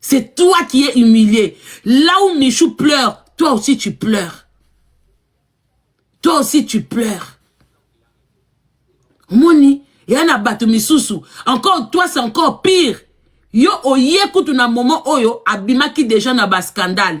C'est toi qui es humilié. Là où Michou pleure, toi aussi tu pleures. Toi aussi tu pleures. Moni, il y en a bato misusu. Encore toi c'est encore pire. Yo oye kutu na moment oyo abimaki déjà na ba scandale.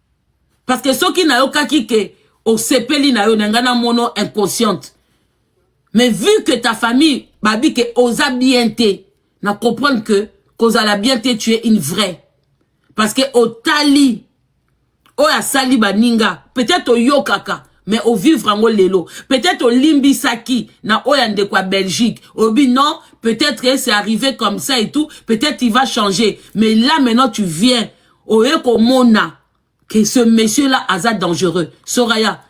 parce que soki nayokaki ke osepeli na yo na ngai na mono inconsciente mais vu que ta famille babi ke oza bien te na comprendre que kozala bien te tu es une vraie parce que otali oyo asali baninga peut-être oyokaka mais ovivre yango lelo peut-être olimbisaki na oyo ya ndeko ya belgique obi non peut-être c'est arrivé comme ça et tout peut-être il va changer mais là maintenant tu viens oye komona que ce monsieur là aza dangereux soraya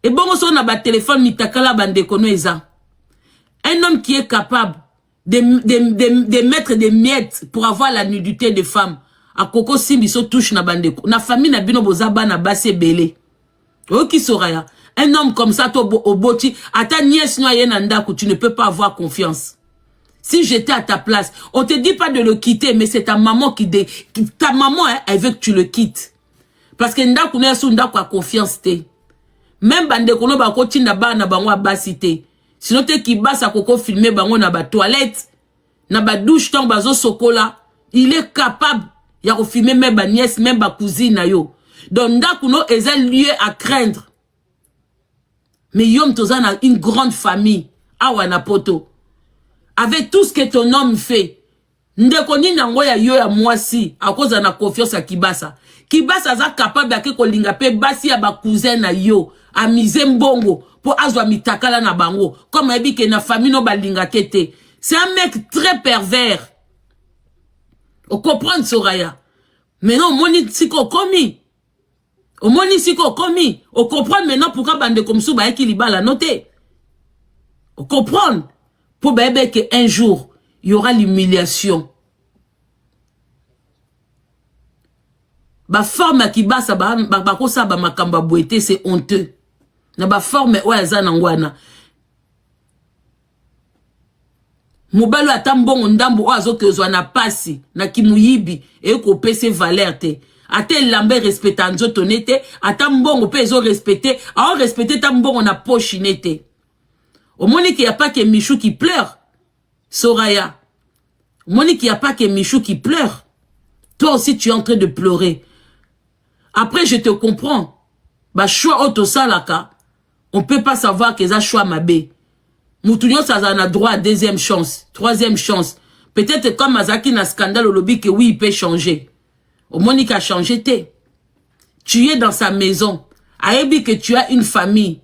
ebongo soko na batelefone mitakala bandeko no eza un homme qui est capable de, de, de, de mettre des miettes pour avoir la nudité de femme akoki osimbiso touche na bandeko na famille na bino boza bana basi ebele oyoki soraya un homme comme ça to oboti ata nièce no aye na ndako tu ne peux pas avoir confiance si j'étais à ta place on te dit pas de le quitter mais c'est ta maman qui, de, qui ta maman hein, elle veut que tu le quittes parce que ndako na yasu ndako ya confiance te même bandeko no bakotinda bana bango ya basi te sino te kibasa koko filme bango na batoilette na ba douche tango bazo sokola il est capable ya ko filmer même ba nièce même ba cousine na yo donc ndaku no eza lieu à craindre mais yo moto oza na une grande famille awa na poto avec tout ce que ton homme fait ndeko nini yango ya yo ya mwasi akozala na confiance ya kibasa kibasa aza capable ake kolinga mpe basi ya bacousin na yo amise mbongo mpo azwa mitakala na bango comme ayebi ke na famille no balingake te c'est un mec très pervers okomprendre soraya maintenant omoni sika okomi omoni sika okomi okomprendre maintenant pourquoi bandeko mosusu bayaki libala no te okomprendre mpo bayebe ke un jour y aura l'humiliation baforme ya kibasa bakosala ba, ba bamakambo ya boye te c'est honteux na baforme oyo aza nango wana mobali oyo ata mbongo ndambo oyo azokezwa na pasi na kimoyibi ekopese valeur te ata elamba erespecta nzoto ne te ata mbongo mpe ezorespecte aorespecte ata mbongo na poshi ne te omoni ke ya pake michou qui pleure soraya omoni ke ya pake michou qui pleure toi aussi tu es en train de pleurer après je te comprends ba choix oyo tosalaka on peut pas savoir que eza choix mabe mutu nyonso azala na droit ya deuxième chance troisième chance peut-être comme azalaki na scandale olobi que oui il peut changer omoni ka changer te tu es dans sa maison ayebi que tu as une famille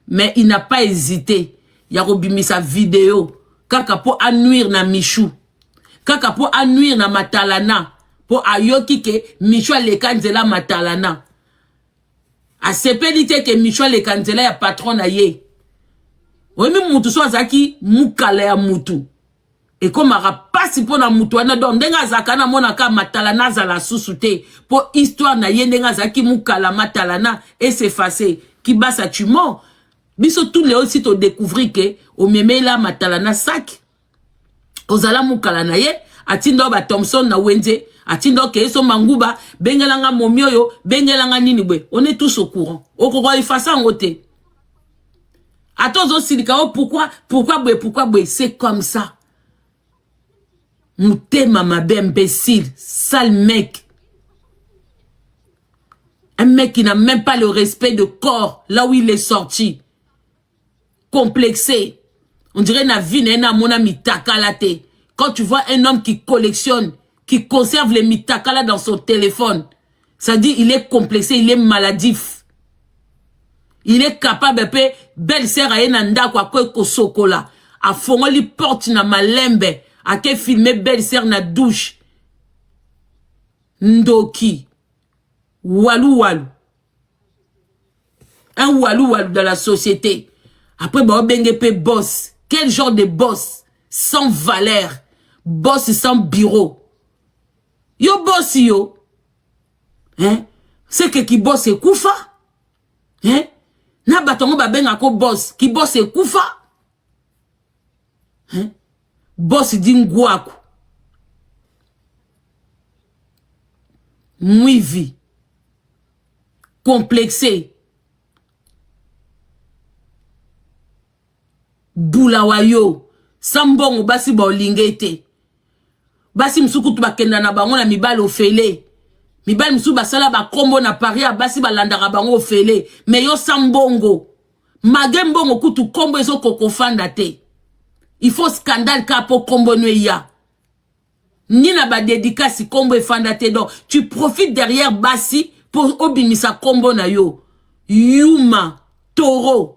mais il n'a pas hésité ya kobimisa video kaka po anuire na michou kaka po anuire na matalana po ayoki ke michou aleka nzela matalana asepeli te ke michou aleka nzela ya patron na ye oyemi mutu so azalaki mukala ya mutu ekomaka pasi mpo na moto wana donc ndenge azalaka na mona ka matalana azala susu te mpo histoire na ye ndenge azalaki mukala matalana esefase kibasa tumo biso tout leo si todecouvrir ke omemela matalana saki ozala mukala na ye atinda ba thomson na wenze atinda okeye so manguba bengelanga momi oyo bengelanga nini boye on est tous au courant okoka efasa yango te ata ozosilika o pourkui pourkui boye pourkui boye se comme ça motema mabe imbécile sale mec un mec qui n'a même pas le respect de corps là où il est sorti complexé on dirait na vie na ye namona mitakala te quand tu vois un homme qui collectionne qui conserve les mitakala dans son téléphone ça dit il est complexé il est maladif il est capable pe belle sœur aye na ndako akoki kosokola afongoli porte na malembe ake filme belle sœur na douche ndoki walu walu un walu walu dans la société après baobenge pe boss quel genre de boss sans valeur boss sans bureau yo bosi yo hein? seke kibos ekufa hein? na bato yango babenga ko bos kibos ekufa hein? bos di ngwaku mwivi complexe bula wa yo sa mbongo basi baolinga ete basi mosusu kutu bakenda na bango na mibali ofele mibali mosusu basala bakombo na paris ya basi balandaka bango ofele me yo sa mbongo mage mbongo kutu kombo ezokokofanda te il faut scandale ka po kombo no eya ni na badedikasi kombo efanda te donc tu profites derrière basi po obimisa kombo na yo yuma toro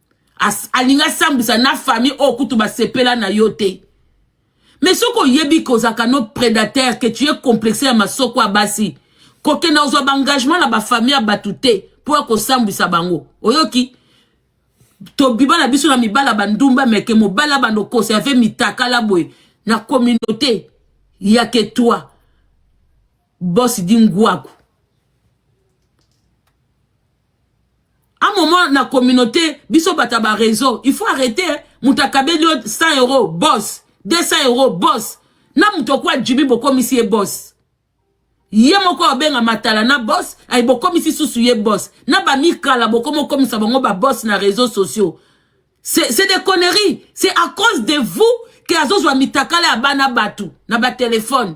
As, alinga sambisa na famille oyo kutu basepela na yo te mais soki oyebi ke ozalaka no prédateur ke tu es complexe ya masoko ya basi kokenda kozwa baengagement na bafamille ya bato te mpo ya kosambwisa bango oyoki tobiba na biso na mibala bandumba meke mobala bando conserve mitakala boye na communauté ya ke toi Boss di ngwaku. À moment na communauté, biso bata ba réseau, il faut arrêter. Hein? Mutakabeli 100 euros, boss. 200 euros, boss. Na mutokwa Jimmy bokomisi ye boss. ye moko abenga matala na boss ay bokomisi susu ye boss na bamikala bokomi okomisa bango baboss na réseaux sociaux c'est des conneries c'est à cause de vous ke azozwa mitakala ya bana bato na batelefone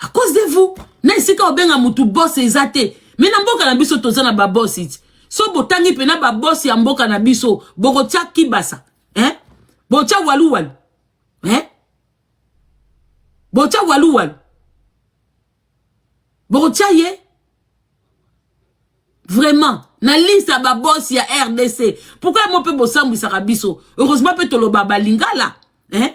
à cause de vous na esika obenga mutu boss eza te mais na mboka na biso toza na ba boss iti so botangi pena ba boss ya mboka na biso bokotia kibasa hein botia walu walu hein botia walu walu bokotia ye vraiment na liste ya babosi ya rdc pourkui yango mpe bosambwisaka biso heureusement mpe toloba balingala eh?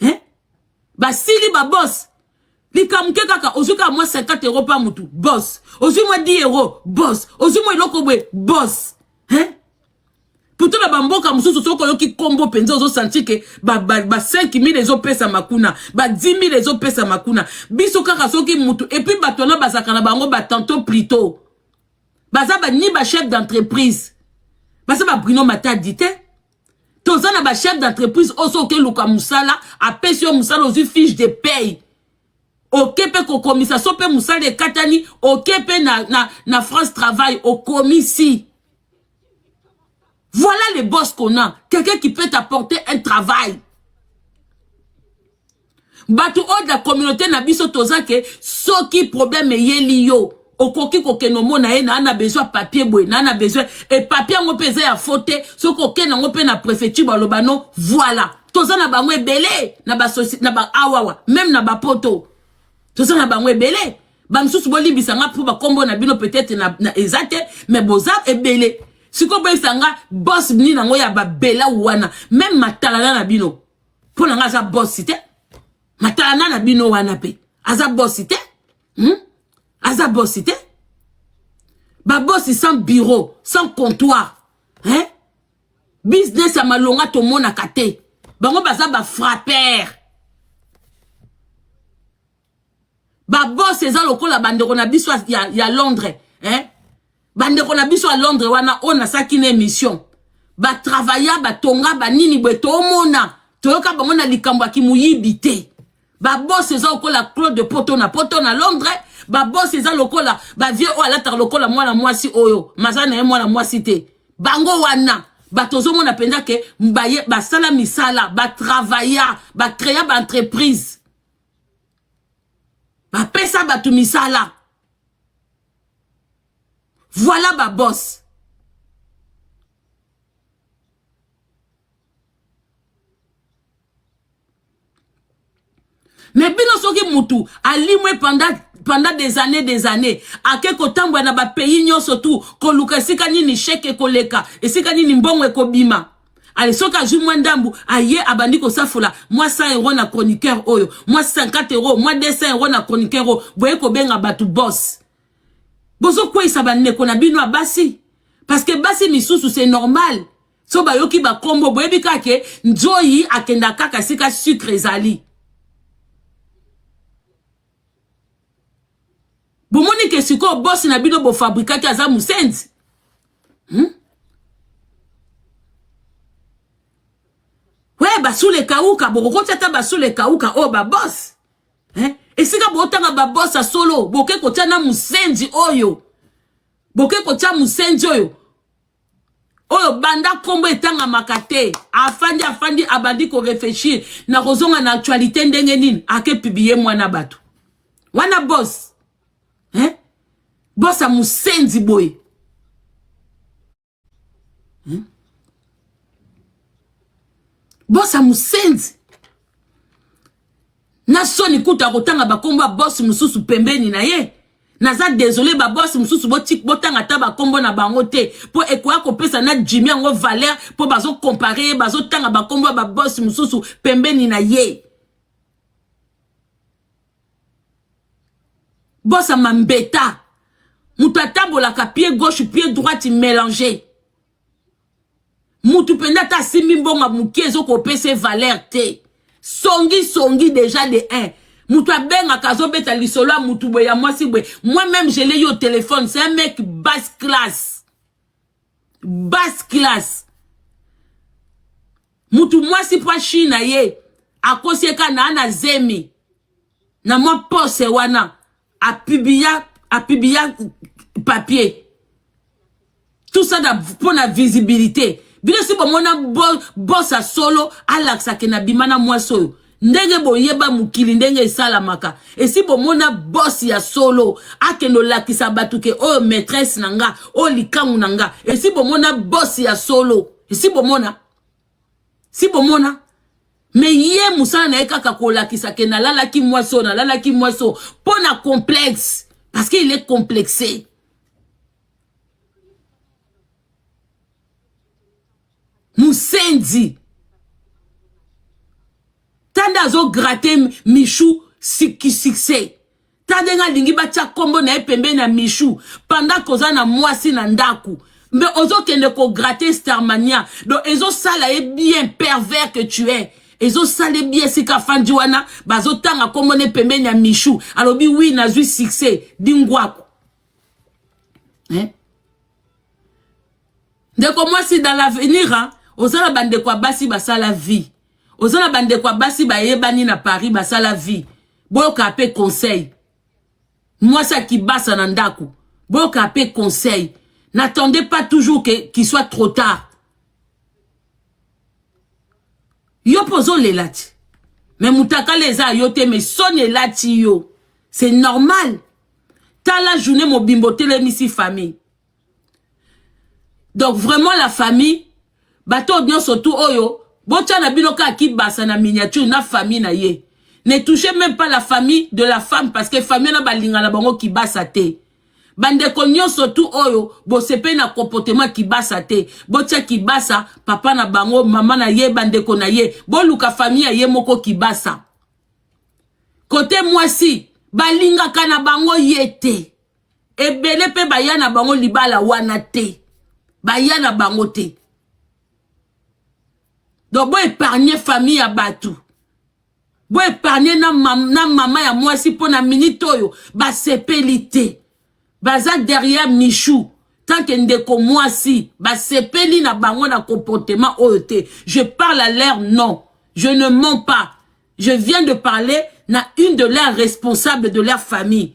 eh? basili babos likambo ke kaka ozwi kaka mwa 50 euro mpa motu bos ozwi mwa 10 euro bos ozwi mwa eloko boye bos eh? puto na bamboka mosusu soki oyoki nkombo mpenza ozosanti ke ba, ba, ba 5000 ezopesama kuna ba 10000 ezopesama kuna biso kaka soki motu epuis bato wana bazalaka na bango batanto plito baza ba, ni bachef d'entreprise baza babrino matadi te toza na ba chef d'entreprise oyo soki okeluka mosala apesi yo mosala ozwi fiche de paye oke mpe kokomisa so mpe mosala ekatani oke mpe na, na, na france travail okomisi voilà le boss qu'on a quelqu'un qui peut t'apporter un travail bato oyo de la communauté na biso toza ke soki problème eyeli yo okoki kokende omona ye naa na besoin ya papier boye naa na besoin e papier yango mpe eza ya fo te soki okende yango mpe na préfecture baloba no voilà toza na bango ebele na basosi na ba awawa meme na bapoto toza na bango ebele bamisusu bolimbisa nga mpo bakombo na bino peut-être na, na eza te mais boza ebele sikoyo boyebisa nga bos nini yango ya babela wana meme matalana na bino mpo na ngai aza bosi te matalana na bino wana mpe aza bosi te hmm? aza bosi te babosi sans bureau sans comptoir hein? business ya malonga tomonaka te bango baza bafrappere ba boss eza lokola bandeko na biso ya, ya londres eh? bandeko na biso ya londres wana oyo nasalaki na émission batravaya batonga banini boye tomona toyoka bango na likambo ya kimoyibi te babosi eza lokola claude poto na poto na londres babosi eza lokola bavie oyo alataka lokola mwana mwasi oyo maza na ye mwana mwasi te bango wana bato ozomona mpenza ke basala misala batravaya bacrea baentreprise bapesa bato misala voilà ba boss mais bino soki mutu alimwe pendant pendant des années des années ake kotambola na bapays nyonso tu koluka esika nini sheke ekoleka esika nini mbongo ekobima ale soki azwi mwa ndambu aye abandi kosafola mwa 100 euro na chroniqueur oyo mwa 50 euro mwa 200 euro na chroniqueur oyo boye kobenga bato boss bozokweisa bandeko na bino ya basi parce que basi misusu c'est normal so bayoki bakombo boyebi kaka ke nzoyi akenda kaka esika sucre ezali bomoni ke sikoyo bosi na bino bofabrikaki aza mosenzi hmm? we basule kauka bokokoti ata basule kauka oyo oh, babosi eh? esika botanga babosi ya solo boke kotya na mosenzi oyo boke kotya mosenzi oyo oyo banda nkombo etangamaka te afandi afandi abandi koreflechir na kozonga na actualité ndenge nini ake publie mwana bato wana bos eh? bos ya mosenzi boye eh? bos ya mosenzi na soni kutu akotanga bakombo ya boss mosusu pembeni na ye naza desole baboss mosusu botanga ata bakombo na bango te mpo ekoya kopesa na jimi yango valeur mpo bazokompare ye bazotanga bakombo ya baboss mosusu pembeni na ye bos ya mambeta moto atambolaka pie gauche pie droite mélange mutu mpenza ata asimbi mbongo moke ezokopesa ye valeur te songi songi deja de 1 mutu abengaka azobeta lisolo ya mutu boye ya mwasi boye moi meme je l'ai eu au téléphone c'est un mec basse classe basse classe mutu mwasi mpo ashi na ye akosi ye kaka naa na zemi na mwa pose wana a publia a publia papier tout ça da mpo na visibilité bino si bomona bos ya solo alakisa ke na bima na mwasi oyo ndenge boyeba mokili ndenge esalamaka esi bomona bos ya solo akende olakisa bato ke oyo maîtresse na nga oyo likangu na nga esi bomona bos ya solo esi bomona si bomona me ye mosala na ye kaka kolakisa ke nalalaki mwasi oyo nalalaki mwasi oyo mpo na complexe parce que il est complexe musenzi tanda azograter michou succès ta ndenge alingi batya nkombo na ye pembeni ya michou pendant koza na mwasi na ndako mbe ozokende kograte starmania donc ezosala ye bien pervers que tu es ezosala ye bien esika afandi wana bazotanga nkombo ne pembeni ya michou alobi wi nazwi succès dingwaku eh? ndeko mwasi dans l'avenir oza na bandeko ya basi basala vie oza na bandeko ya basi bayebani na paris basala vie boyoka pe conseil mwasi ya kibasa na ndako boyoka pe conseil n'attendez pas toujours que qu'il soit trop tard yo mpe ozolela ti me mutakala eza yo te me soni elati yo c'est normal tala journée mobimba otelemisi famille donc vraiment la famille bato oyo nyonso tu oyo botya na bino kaka kibasa na miniature na famille na ye ne touchez même pas la famille de la femme parce que famille wana balinga na bango kibasa te bandeko nyonso tu oyo bosepeli na comportement kibasa te botya kibasa papa na bango mama na ye bandeko na ye boluka famille ya ye moko kibasa kote mwasi balingaka na bango ye te ebele mpe baya na bango libala wana te baya na bango te donc boepargne famille ya bato boepargne na, mam, na mama ya mwasi mpo na minite oyo basepeli te baza derrière michou tanke ndeko mwasi basepeli na bango na comportement oyo te je parle à leur nom je ne mens pas je viens de parler na une de leurs responsables de leur famille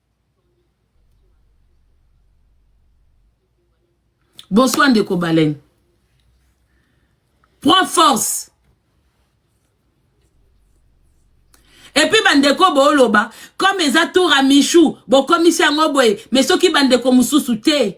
Bonsoir ndeko Baleine. Prends force. epuis bandeko booloba comme eza tour ya michou bokomisi yango boye mais soki bandeko mosusu te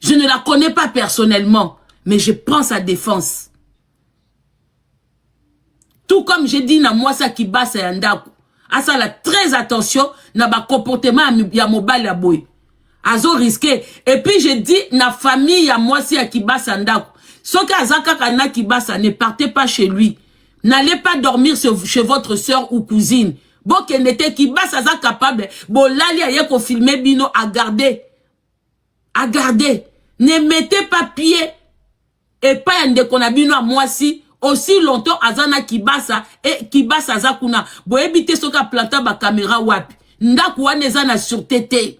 Je ne la connais pas personnellement, mais je prends sa défense. Tout comme j'ai dit na mwasa kibasa ya ndaku, asala très attention na ba comportement ya mobali ya boye. Azo risquer. Et puis j'ai dit na famille ya mwasi ya kibasa ndaku, soki aza kaka na kibasa, ne partez pas chez lui. N'allez pas dormir chez votre soeur ou cousine. bokende te kibasa aza capable bolali aye kofilme bino agarde agarde ne mete pas pied epai ya ndeko na bino ya mwasi aussi longtemps aza na kibasa e kibasa aza kuna boyebi te soki aplanta bakamera wapi ndako wana eza na surete te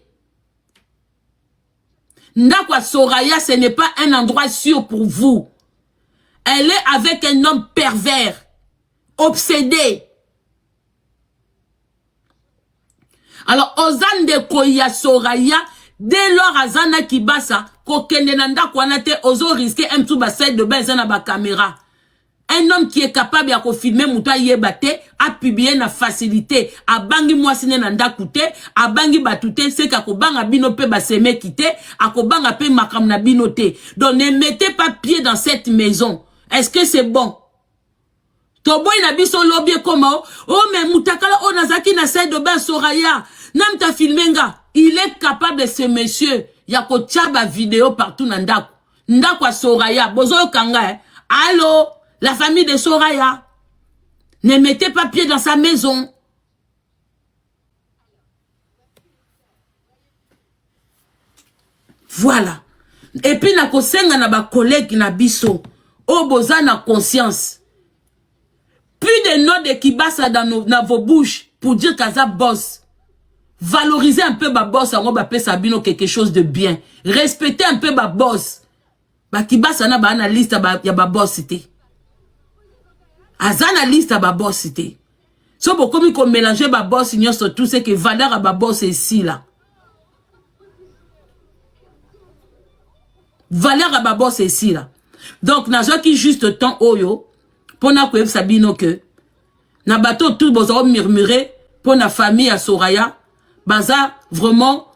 ndako ya soraya ce n'est pas un endroit sûr pour vous elle est avec un homme pervers obsede alors oza ndeko ya soraya dès lors aza na kibasa kokende na ndako wana te ozo riske un tout baside de bain eza na bacaméra un homme qui est capable ya kofilme moto ayeba te apiblie na facilité abangi mwasi ne na ndako te abangi bato te seke akobanga bino mpe basemeki te akobanga mpe makambo na bino te donc ne mettez pas pied dans cette maison est ce que c'est bon toboyi na biso lobi ekoma o oh, me mutakala oyo nazalaki na side obe soraya nanu ta filme nga il est capable ce monsieur ya kotya bavideo partout na ndako ndako ya soraya bozoyoka nga eh? allo la famille de soraya ne mettez pas pied dans sa maison Voilà. Et puis na kosenga na ba collègues na biso oyo oh, boza na conscience. Plus de noms de Kibasa dans nos, dans vos bouches pour dire kaza boss. Valorisez un peu ba boss yango ba pesa bino quelque chose de bien. Respectez un peu ba boss. ba kibasa na ba na liste ba, ya ba boss te aza na liste ya ba boss te so bokomi ko mélanger ba boss nyonso tout ce que valeur ya ba boss esila valeur ya ba boss esila donc nazwaki juste temps oyo mpo na koyebisa bino ke na bato tout boza komurmure mpo na famille ya soraya baza vraiment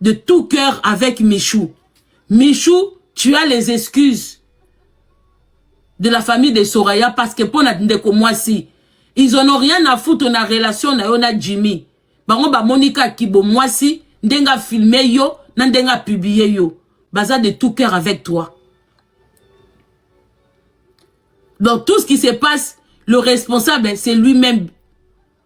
de tout cœur avec Michou. Michou, tu as les excuses de la famille de Soraya parce que pona ndeko mwasi, ils en ont rien à foutre na relation na yo na Jimmy. Bango ba monika kibo mwasi, ndenga filmer yo, na ndenga publier yo. Baza de tout cœur avec toi. Donc tout ce qui se passe, le responsable, c'est lui-même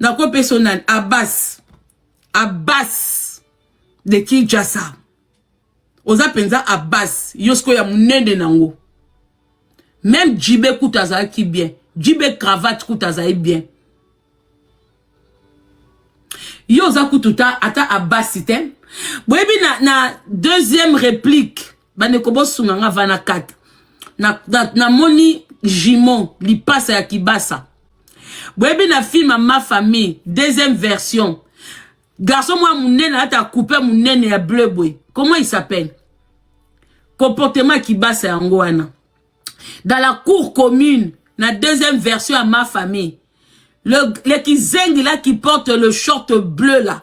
Nako peso nani Abbas. Abbas de Kinshasa. Oza penza Abbas yo siko ya munene nango. Même Djibe kuta azalaki bien. Djibe cravate kuta azali bien. Yo oza kutu ta ata Abbas te. Boyebi na na deuxième réplique bandeko bosunga nga vana kata na, na, na moni jimon lipasa ya kibasa boyebi na film ya ma famille deuxième version garçon mwa munene ata coupe munene ya bleu boye comment il s'appelle comportement ya kibasa yango wana dans la cour commune na deuxième version ya ma famille le, le kizengi là qui porte le short bleu là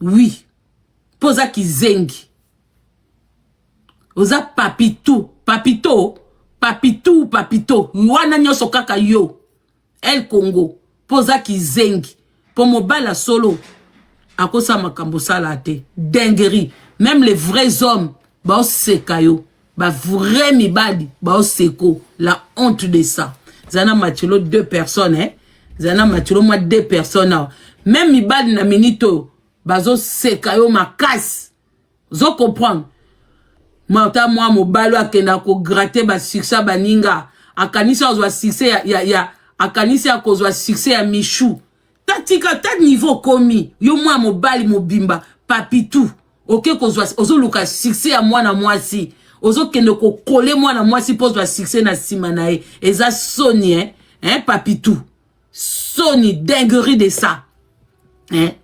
oui po oza kizengi oza papitu papito papitu papito wana nyonso kaka yo el congo po oza kizengi po mobali ya solo akosala makambo osala te dinguerie meme les vrais hommes baoseka yo ba vrai mibali bao seko la honte de ça zana machelo deux personnes eh? zana machelo mwa deux personnes awa même mibali na minute oyo bazoseka yo makasi ozo comprendre mata mwa mobali akenda kograte basuccès baninga akanisi akozwa succès ya, ya, ya akanisi akozwa succès ya michou ta tika ta niveau okomi yo mwana mobali mobimba papitu oke kozwa ozoluka succès ya mwana mwasi ozokende kokole mwana mwasi mpo ozwa succès na nsima na ye eza soni eh? Eh, papitu soni dinguerie de ça eh?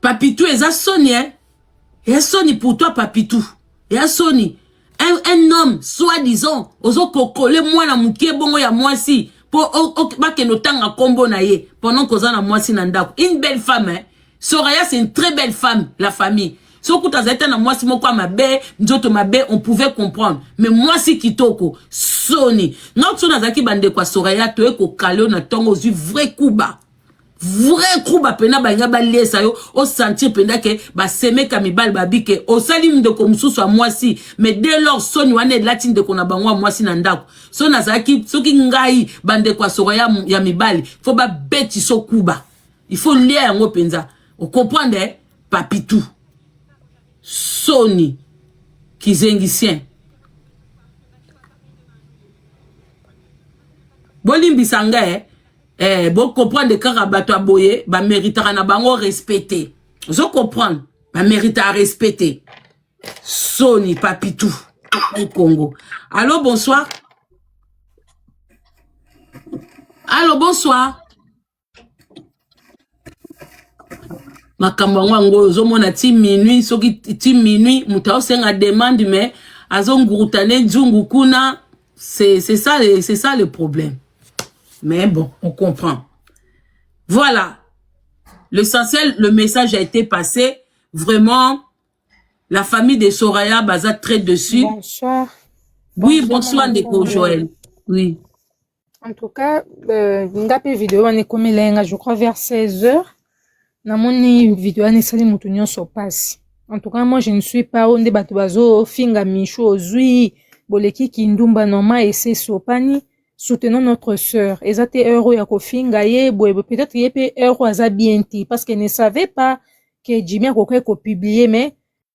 papitu eza soni eh? ya soni pour toi papitu ya soni un, un homme soit disant ozo kokole mwana moke bongo ya mwasi po bakende otanga kombo na ye pendant koza na mwasi na ndako une belle femme hein? Soraya c'est une très belle femme la famille soki kutu azali ta na mwasi moko ya mabe nzoto mabe on pouvait comprendre mais mwasi kitoko soni nga kutu soki nazalaki bandeko ya soraya toye kokale oyo na ntongo ozwi vrai kuba vrai kuba mpena balinga baliesa yo osentir mpenda ke basemeka mibali babike osali ndeko mosusu ya mwasi mais de lor soni wana elati ndeko na bango ya mwasi na ndako so nazalaki soki ngai bandeko ya soko ya, ya mibali fo babeti so kuba il faut lia yango mpenza okomprendre eh? papitu soni kizengisien bolimbisa ngai eh? eh, bo comprendre kaka bato ya boye ba meritaka na bango respecte ozo comprendre ba meritaka respecte soni papitou au Congo allo bonsoir allo bonsoir makambo yango yango oyo ozomona ti minuit soki ti minuit moto aosenga demande mais azonguruta ne nzungu kuna c'est ça, ça le problème mais bon on comprend voilà l'essentiel le message a été passé vraiment la famille de soraya baza très dessus bonsoir. oui bonsoir, bonsoir ndeko joël oui en tout cas euh, nga mpe video wana ekomela ye nga je crois vers 16 heures namoni video wana esali moto nyonso mpasi en tout cas moi je ne suis pas oyo nde bato bazofinga michu ozwi boleki kindumba normal ese esopani soutenons notre sœur eza te heure oyo ya kofinga ye boye peut-être ye mpe heure oyo aza bien te parce que ne savait pas que jimi akokaki kopublie mais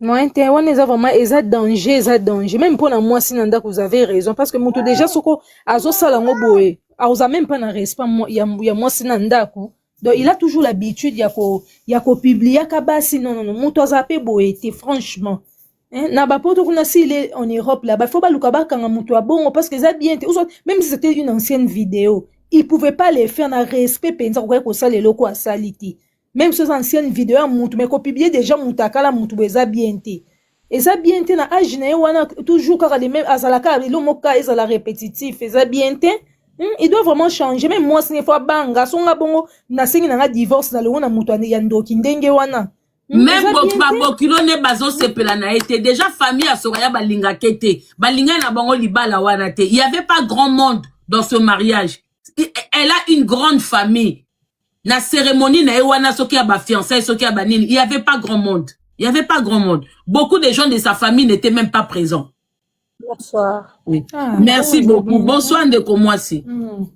moyen te wana eza vraiment eza danger eza danger meme mpo na mwasi na ndako vous avez raison parce que moto déjà soko azosala yango boye aoza meme mpa na respect ya mwasi na ndako donc il a toujours l'habitude ya ko ya kopubliaka basi non non moto aza mpe boye te franchement Hein? na bapoto kuna si il est en europe là bafo baluka bakanga moto ya bongo parce que eza bien te même si c'était une ancienne vidéo il pouvait pas le faire na respect mpenza kokaki kosala eloko asali te Même si oza ancienne video ya mutu mais ko publier déjà mutu akala mutu bo eza bien te. Eza bien te na âge na ye wana toujours kaka les mêmes azala kaka elo moka ezala répétitif eza bien te. Hmm, il doit vraiment changer même moi sine fois banga songa bongo na sengi na nga divorce na longo na mutu ya ndoki ndenge wana. Hmm, même babokilo nde bazosepela na ye te déjà famille ya sokaya balingake te balingani na bango libala wana te il y avait pas grand monde dans ce mariage elle a une grande famille na cérémonie na ye wana soki ya ba fiançailles soki ya ba nini il y avait pas grand monde il y avait pas grand monde beaucoup de gens de sa famille n'étaient même pas présents Bonsoir. oui. ah, merci bon, beaucoup bonsoir ndeko mwasi mm.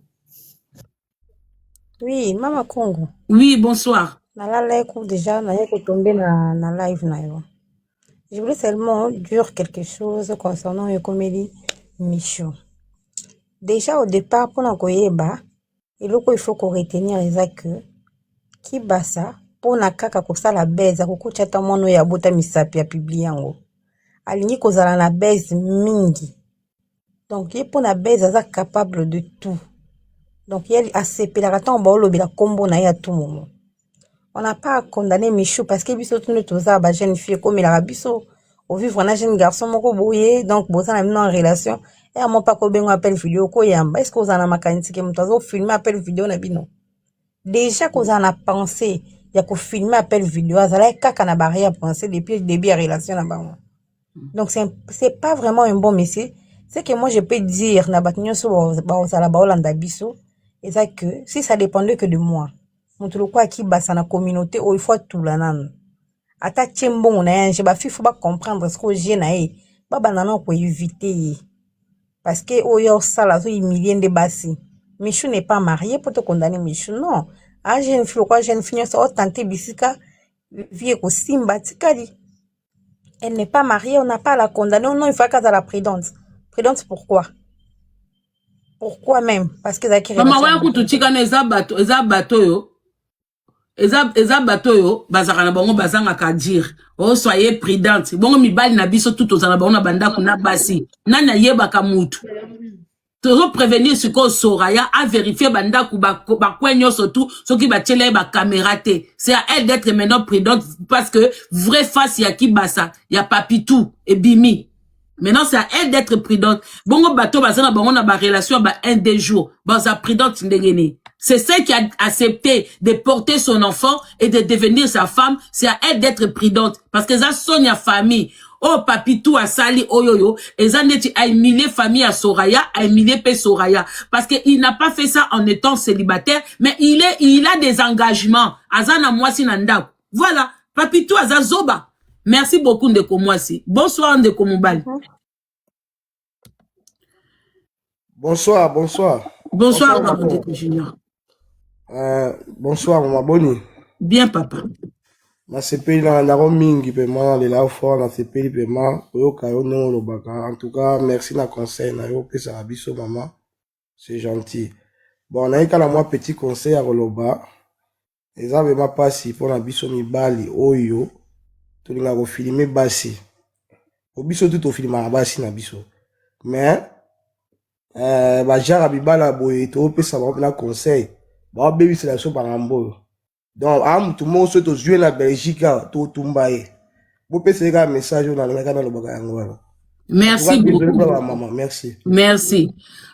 oui mama congo oui bonsoir nalala eko déjà naye kotombe na, na live na yo je voulais seulement dire quelque chose concernant ekomeli micho déjà au départ mpona koyeba eloko il faut ko retenir eza que kibasa pona kaka kosala buzz akokotya ata mwana oyo abota misapi ya publie yango alingi kozala na buzz mingi donc ye pona buzz aza capable de tout donc ye asepelaka ntango baolobela nkombo na ye ya tout moment on n'a pas à condamner Michou parce que biso tout nde toza ba jeune fille ekomelaka biso o vivre na jeune garçon moko boye donc boza na bino en relation et à moko ako benga yo appel video oko yamba est ce que oza na makanisi que mutu azo filme appel video na bino? Dejà kozala na pensee ya ko filme appel video azalaki kaka na ba arrière pensee depuis debut ya relation na bango donc c'est un- c'est pas vraiment un bon monsieur ce que moi je peux dire na bato nyonso bao- baozala baolanda biso eza que si ça dépendait que de moi Moto lokola Kibasa na communauté oyo faut atula nanu. Ata tie mbongo na ye ba fifu ba comprendre ce que je na ye ba banda na ko éviter ye. Parce que oyo ya osala azo humilier nde basi. Michou n'est pas marié pour te condamner Michou non. A jeune fille lokola jeune fille nioso o tenter bisika vie ekosimba atikali. elle n'est pas marier on n'a pas la condamne non il faut qu'elle la prudente prudente pourquoi pourquoi même parce que ezalaki mama waya kutu tikana eza bato eza bato oyo eza eza bato oyo bazalaka na bango bazangaka dire o oh, soye prudente bongo mibali na biso tu tozala bango na bandako na basi nani ayebaka mutu tozo prevenir sikoyo soraya averifie bandako bacoin ba nyonso tu soki batyela ye bakamera te c'est à elle d'être maintenant prudente parce que vrai face ya kibasa ya papitou ebimi maintenant c'est à elle d'être prudente bongo bato baza na bango na barelation ya ba un deux jours baza prudente ndenge nini c'est celle qui a accepté de porter son enfant et de devenir sa femme c'est à elle d'être prudente parce que eza son ya famille oyo oh, papitu asali oyo yo eza ndeti aimilie famille ya soraya aimilie mpe soraya parce que il n'a pas fait ça en étant célibataire mais il est il a des engagements aza na mwasi na ndako voilà papitu aza zoba merci beaucoup ndeko mwasi bonsoir ndeko mobali Bonsoir, bonsoir. Bonsoir, bonsoir Papa Junior. Euh, bonsoir, maman Boni. Bien, papa. nasepeli na yango mingi mpema nalela yo fort nasepeli mpema koyoka yo ndenge olobaka en tout cas merci na conseil na yo opesaka biso mama c'est gentil bon nayika na mwa petit conseil ya koloba eza vrema mpasi mpona biso mibali oyo tolinga kofilme basi po biso tu tofilmaka basi na biso me eh, bajara mibala boye topesa bango mpena conseil baobebisela biso bangambo oyo donc a motu moko soki tozwi ye na belgique awa totumba ye bopesa ye kaka message oyo nalingaka nalobaka yango wana merci beaucoup merci merci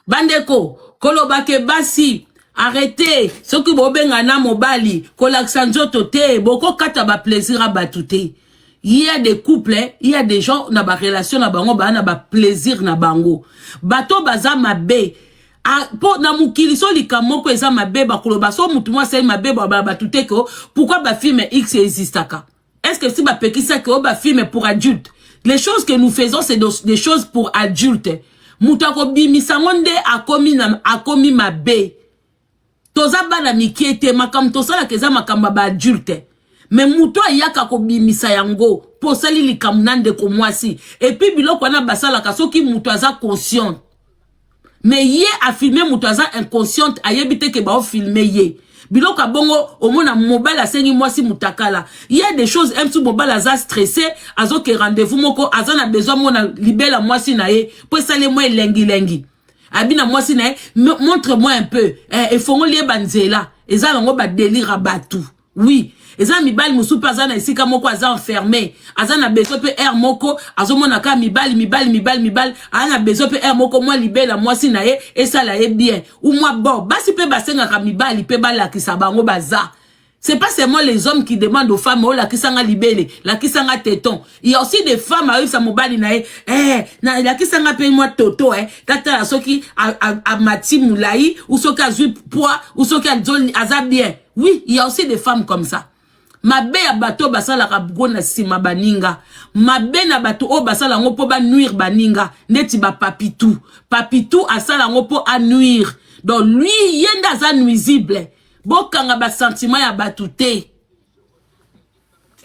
bandeko koloba ke basi arrete soki bobenga na mobali kolakisa nzoto te bokokata baplaisir ya bato te ya de couple ya de gens na barelation na bango baa na baplaisir na bango bato baza mabe mpo na mokili so likambo moko eza mabe bakoloba so motu mwa asali mabe babala bato te ko pourkui bafilme x existaka est ce que si bapekisaki oyo bafilme pour adulte les choses que nous faisons c'est des choses pour adulte moto akobimisa yango nde akomi, na, akomi mabe toza bana mikie te makambo tosalaka eza makambo ya baadulte me moto ayaka kobimisa yango mpo osali likambo na ndeko mwasi epuis biloko wana basalaka soki moto aza consciente mais ye afilme moto aza inconsciente ayebi te ke baofilme ye biloko ya bongo omona mobali asengi mwasi mutakala il y a des choses msu mobali aza stresse azoke rendez-vous moko aza na besoin mona libela mwasi na ye mpo esali mwa elengilengi abi na mwasi na ye montre moi un peu eh, efongoli ye banzela eza yango badelire ya bato Oui, eza mibali mosusu mpe aza na esika moko aza enferme aza na besoin mpe aire moko azomona kaka mibali mibali mibali mibali aza na besoin mpe aire moko mwa libela mwasi na ye esala ye bien ou mwa bo basi mpe basengaka mibali mpe balakisa bango baza C'est pas seulement les hommes qui demandent aux femmes, oh, la kisanga libele, la kisanga téton. Il y a aussi des femmes, ah, ça mobali nae, eh, na, la kisanga paye moi toto, eh, tata, soki, a, a, a, mati moulaï, ou soki a zui poids, ou soki a zoli, aza bien. oui il y a aussi des femmes comme ça mabe ya bato oyo basalaka bgo na nsima baninga mabe na bato oyo basala yango mpo banuire baninga ndeti bapapitu papitu asala yango mpo anuire donc lui ye nde aza nuisible bokanga basentiment ya bato te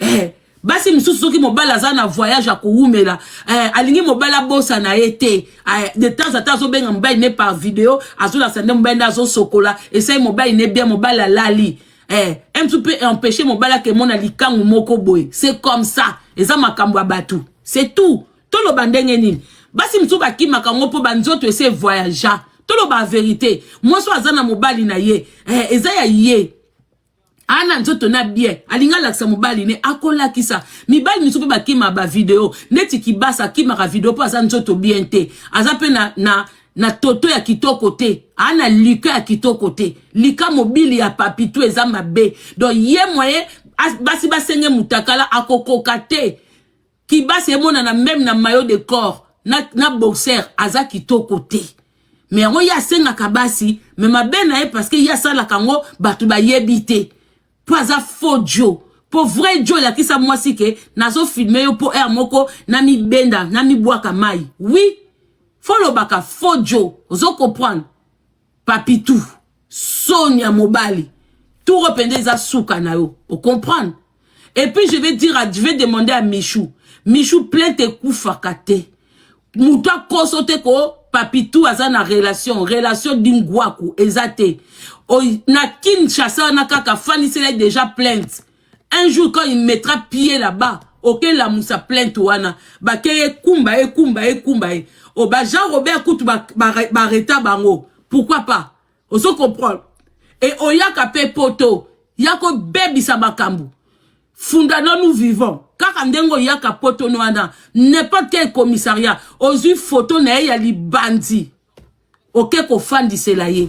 eh, basi mosusu soki mobali aza na voyage ya kowumela eh, alingi mobali abosana ye te eh, de temps ata azobenga mobali ne par video azolakisa nde mobali nde azosokola esai mobali ne bien mobali alali eh, mtu mpe empêche mobali akemona likangu moko boye c'est comme ça eza makambo ya bato c'est tout toloba ndenge nini basi mosusu bakimaka yango mpo banzoto ese voyagea toloba verité mwasi oyo aza na mobali na ye eh, eza ya ye ana nzoto na bien alingi alakisa mobali ne akolakisa mibali misusu mpe bakima bavideo neti kibasa akimaka video mpo aza nzoto bien te aza mpe na, na, na toto ya kitoko te aa na lika ya kitoko te lika mobili ya papitu eza mabe don ye moye basi basenge mutakala akokoka te kibasi emonana meme na maillot de corps na, na boxer aza kitoko te me yango ye asengaka basi me mabe na ye parceke ye asalaka yango bato bayebi te mpo aza faux jo mpo vrai jo elakisa mwasi ke nazofilme yo mpo heure moko namibenda namibwaka mai wi folobaka faux jo ozo comprendre Papitou, soni ya mobali. Tour pende eza suka na yo. O comprendre? Et puis je vais dire, à, je vais demander à Michou. Michou plainte ekufaka te. Mutu akoso te ko Papitou aza na relation, relation d'ingwaku eza te. O, na Kinshasa na kaka fanisela déjà plainte. un jour quand il mettra pied là-bas okelamusa plainte wana bake ekumba ye ekumba ye ekumba ye o oh, ba jean robert kutu bareta bango pourquoi pas ozo comprendre e oyaka mpe poto ya kobebisa makambo funda nanu vivant kaka ndenge oyaka poto no wana n'importe quel commissariat ozwi foto na ye ya libandi oke kofandisela ye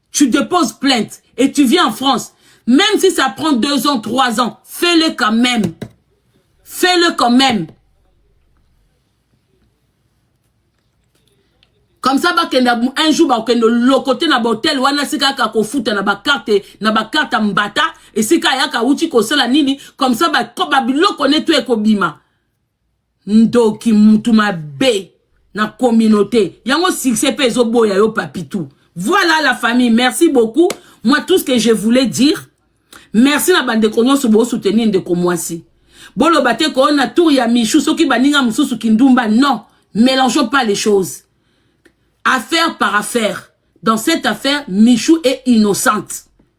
Tu déposes plainte et tu viens en France. Même si ça prend deux ans, trois ans, fais-le quand même. Fais-le quand même. comme ça bakende un jour bakende lokote na bahotel wana esika yaka kofuta na bakarte na bakarte ya mbata esika ayaka auti kosala nini comme ça babiloko ne to ekobima ndoki mutu mabe na communauté yango succès pe ezo boya yo papitou voilà la famille merci beaucoup moi tout ce que je voulais dire merci na bandeko nyonso bo soutenir ndeko mwasi boloba te ko na tour ya michou soki baninga mosusu kindumba non mélangeons pas les choses affaire par affaire dans cette affaire michou est innocente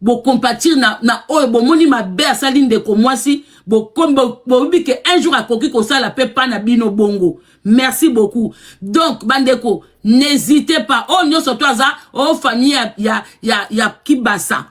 bocompatir na, na oyo bomoni mabe asali ndeko mwasi boyebi ke un jour akoki kosala mpe mpa na bino bongo merci beaucoup donc bandeko n'hésitez pas oyo nyonso to aza o famille ya, ya, ya, ya kibasa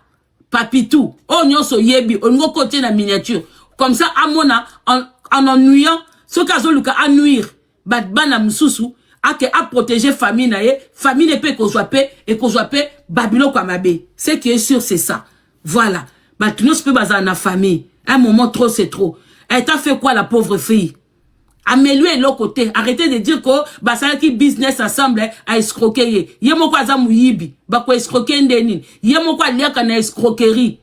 papitou oyo nyonso oyebi olingi okotie na miniature comme ça amona en, en ennuyant soki azoluka anuire ba bana mususu ake a protéger famille na ye famille ne pe kozwa pe ekozwa pe ba biloko ya mabe ce qui est sûr c'est ça voilà bato nyonso pe bazala na famille un moment trop c'est trop elle t'a fait quoi la pauvre fille ameliwe eloko te arrete de dire ko basalaki business ensemble a escroke ye ye moko aza moyibi bakoescroke nde nini ye moko aliaka na escroquerie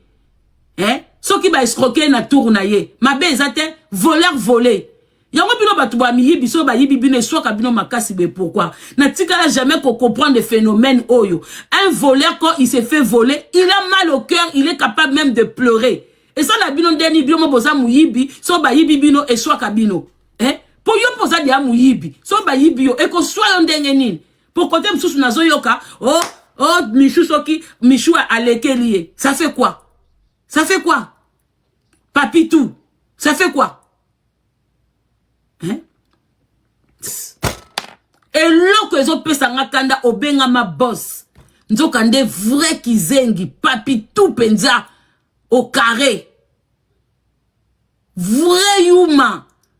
eh? soki baescroke ye na tour na ye mabe eza te voleur voler yango bino bato bwa miyibi soki bayibi bino eswaka bino makasi boye pourquoi natikala jamais kocomprendre phénomène oyo un voleur quand il se fait voler il a mal au cœur il est capable même de pleurer esala bino ndeni bino mo boza moyibi soki bayibi bino eswaka bino eh? mpo yo mpo oza deya moyibi soki bayibi yo ekoswa yo ndenge nini mpo kote mosusu nazoyoka o oh, o oh, michu soki michu alekeli ye ça fait quoi ça fait quoi Papi tout. Ça fait quoi hein? eloko ezopesa nga kanda obengama boss nzoka nde vrai kizengi papi tout mpenza au carré vrai yuma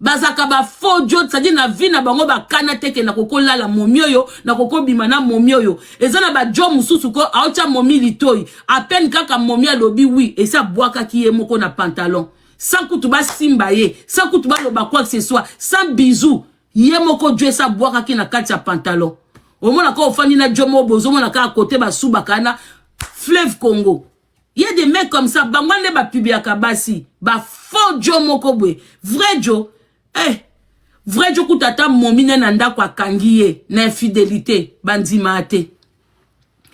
bazaka ba faux diot c'est-à-dire na vie na bango bakana te ke nakokolala momi oyo nakokobima na momi oyo eza na bajo mosusu ko aotya momi litoi apene kaka momi alobi wi esi abwakaki ye moko na pantalon sans kutu basimba ye sans kutu baloba quoi que ce soit sans bisou ye moko jo esi abwakaki na kati ya pantalon omona kaka ofandi na jo moko bozomona kaka kote basubaka na fleuve congo Il y a des mecs comme ça, bango nde ba publiaka basi, ba faux Joe moko boye. Vrai Joe, eh, vrai Joe kuta ata momi ne na ndako akangi ye na infidelité, bandima ate.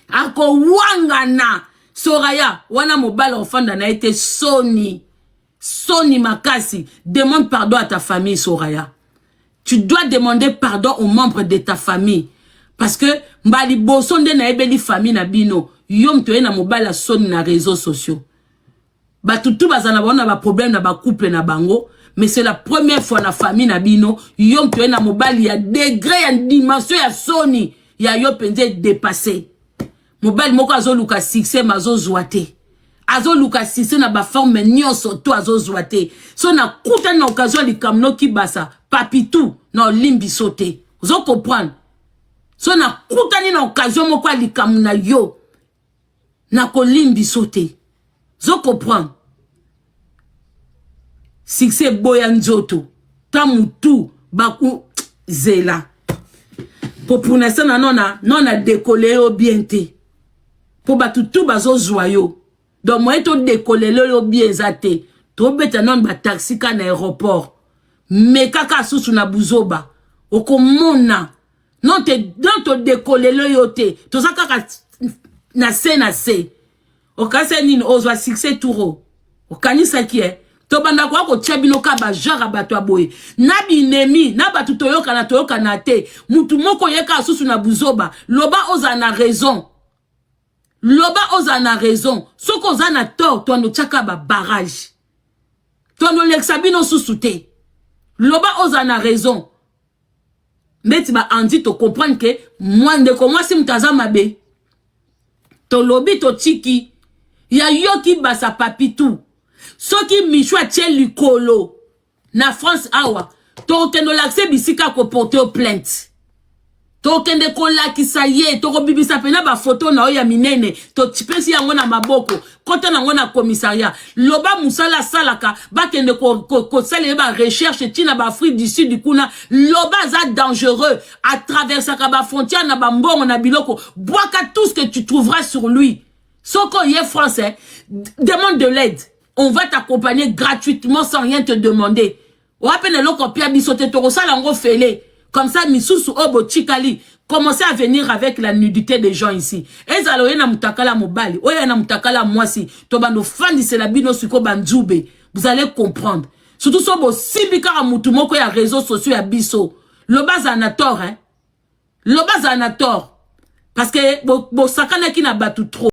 Ako wangana Soraya wana mobala ofanda na ye te soni. Soni makasi, demande pardon à ta famille Soraya. Tu dois demander pardon aux membres de ta famille. Parce que mbali boso nde na ebeli famille na bino. Yo mtu na mobali ya soni na réseaux sociaux. Batu tu bazana baona ba problème na ba couple na bango. Mais c'est la première fois na famille na bino. Yo mtu na mobali ya degré ya dimension ya soni. Ya yo penze dépassé. mobali moko azoluka succès ma azozwa te azoluka succès na baforme nyonso to azozwa te so nakutani na occasion ya likambo nokibasa papitu na olimbiso te ozo comprendre so nakutani na occasion moko ya likambo na yo nakolimbiso te ozo comprendre succès eboya nzoto ta mutu baku zela kopuna sana nona nona dekole yo bien te po bato tu bazozwa yo donc moye todekolele yo bien eza te tobeta nano bataxi ka na aéroport mekaka susu na buzoba okomona non todekolele yo te toza kaka na se na se Okasa nini ozwa succès turo. Okanisaki eh tobanda koya kotia bino ka bajare ya bato ya boye na binemi na bato toyokana toyokana te motu moko yeka susu na buzoba loba ozala na raison loba ozala na raison soki oza na tort toando tiaka babarage toando lekisa bino susu te loba ozala na raison ndeti ba anti to comprendre ke mwa ndeko mwasi moto aza mabe tolobi totiki ya yoki basa papitu soki michu atie likolo na france awa tokokende olakisa bisika akoporte yo plainte tokende kolakisa ye tokobimisa mpena bafoto na yo ya minene topesi yango na maboko kota nango na commissariat loba mosala asalaka bakende kosala ye barecherche ntina baafrique du sud kuna loba aza dangereux atraversaka bafrontière na bambongo na biloko bwaka tout ce que tu trouveras sur lui soki oye france eh, demande de l'aide on va t'accompagner gratuitement sans rien te demander oya mpe na eloko apia biso te tokosala yango fele comme ça misusu oyo botikali commencez à venir avec la nudité des gens ici ezala oye na mutakala mobali oye na mutakala mwasi tobanda ofandisela bino siko banzube vous allez comprendre surtout so bosimbi kaka mutu moko ya réseau sociaux ya biso loba azala na tort hein? loba azala na tort parce que bosakanaki bo na bato trop